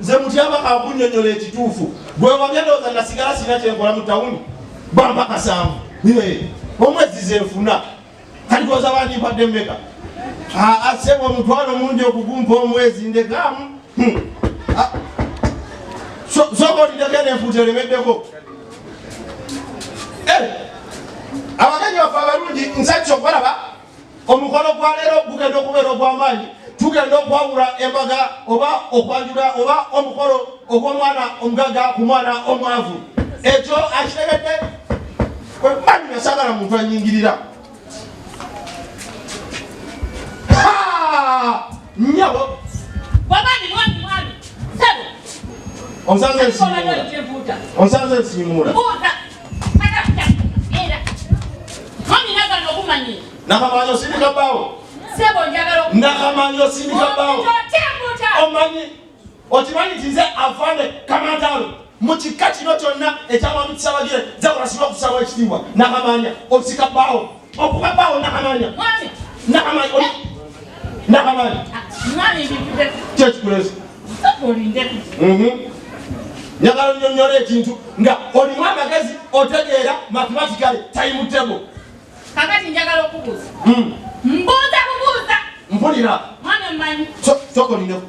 Nze Mutyaba kankunyonyola ekituufu. Gwe wabya ndowooza nasigala sirina kyenkola mu tawuni bampa kasanvu omwezi zenfuna kati koza bandimpadde mmeka asebwa omutwalo mungi okugumpa omwezi ndekamu hmm. soka olindeko nenfuuta olemeddeko eh. abagenyi baffe abalungi nsakisa okubalaba omukolo gwa leero gugenda okubeera ogw'amaanyi tugenda okwawula embaga oba okwanjula oba omukolo ogw'omwana omugaga ku mwana omwavu ekyo akitegedde kwemani nasagala muntu anyingirira nyabo onsanze nsiimuula nakamanyi osindika bawo nakamanyi osindika bawo omanyi okimanyi nti nze afande kamantalo mu kika kino kyonna ekyamwami kisabagire nze kulasiba okusaba ekitiibwa nakamanya osika bawo Okuba bawo nakamanya. Mwami. Nakamanya. Oli. Nakamanya. Mwami ndivude. Kyo kikulezi. Oli ndeku. Mhm. Nyagala onyonyola ekintu nga olimu amagezi otegeera mathematically time table. Kakati njagala okubuuza. Mm. Mbuuza bubuuza. Mpulira. Mwana mmanyi. Soko ninaku.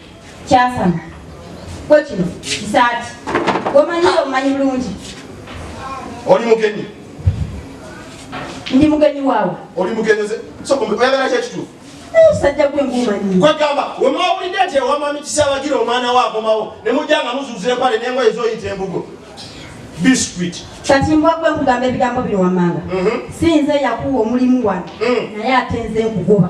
kyasama gwe kino kisaati gomanyi omanyi bulungi oli mugenyi ndi mugenyi waawe oli mugenyi oyagala kyekituufu sajja gwe ngumanyi kwegamba wemwawulidde nti ewamwami kisabagira omwana we akomawo ne mujja nga muzuuza empale nengoye ezoyita embugo biscuit kati mbwa gwe nkugamba ebigambo bino wammanga mhm. si nze yakuwa omulimu wano mm. naye ate nze nkugoba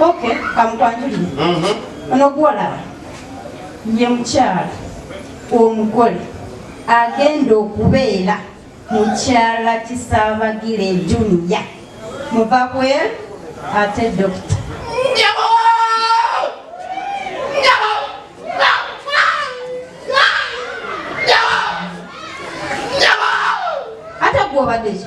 Okay, kamukwanjulire. Mhm. Ono gwolaba ye mukyala omugole agenda okubeera mukyala kisabagire juniya muva kwel ate dokita ate gwobadeki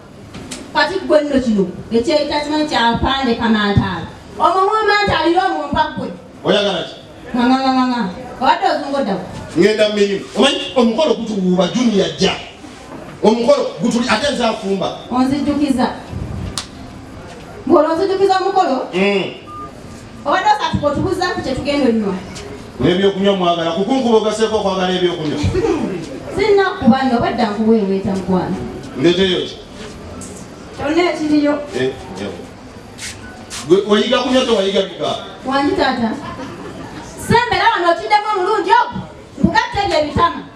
kati gwe nno kino ekyeyita kimanyi kyapande kamantaala omwo mwamanta alira omumpa gwe oyagala ki nganganganga obadde ozungodawo ngenda mumirimu omanyi omukolo gutuwuuba juniya jja omukolo gutuli ate nze afumba onzijukiza ngolwo onzijukiza omukolo mm. obadde osatuka otubuzaako kyetugenda onywa n'ebyokunywa mwagala kukunkuba ogaseeko okwagala ebyokunywa sirina kubanga obadde nkuweeweeta mukwano ndeteyo ki kyonna ekiriyo eh, wayiga kunywa tewayiga bika wangi taata sembera wano okiddemu omulungi ogwo nkugatta ebyo ebitama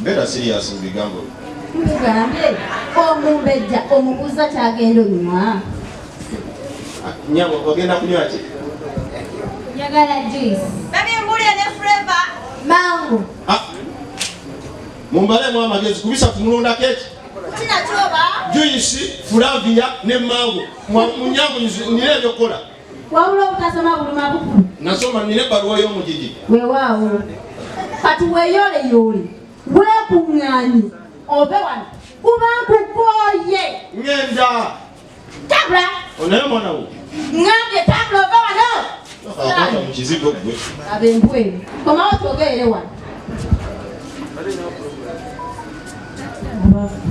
Beera serious mu bigambo byo. Nkugambye omumbejja omubuuza kyagenda onywa. Nyabo ogenda kunywa ki? Njagala juice. Babi mbulire ne flavor. Mango. Ah. Mumbalemu amagezi kubisa kumulonda keki. Kina kyoba. Juice, flavia ne mango. Mwa munyago nire ebyokola. wabula obutasoma buluma bukulu nasoma nina ebbaluwa y'omugigi wewaawo kati weyoleyoole weekuŋŋaanye ove wano kuba nkukooye ŋenda tabula onaye omwana wo ŋambye tabula ove wano mukizigo gwe abembweru komawo twogeere wano Thank you.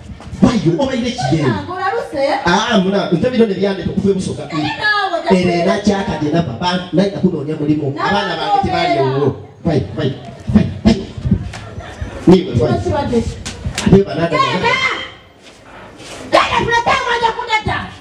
Bayo obaire kigenda. Ah muna nte bino ne byande tukufwe busoka. Ere na chaka de na baba na ina kuno nya mulimo. Abana ba kiti bali wo. Bai bai. Ni bai. Ni bai. Ni bai.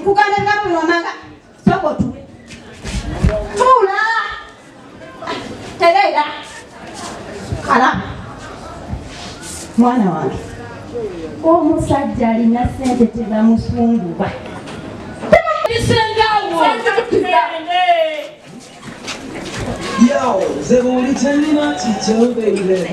Nkugambye nga buli wamanga sooka otuule. Tuula. Tereera. Kala. Mwana wange. Omusajja alina ssente tebamusumbuwa. Yo, nze buli kyenina kikyo baby.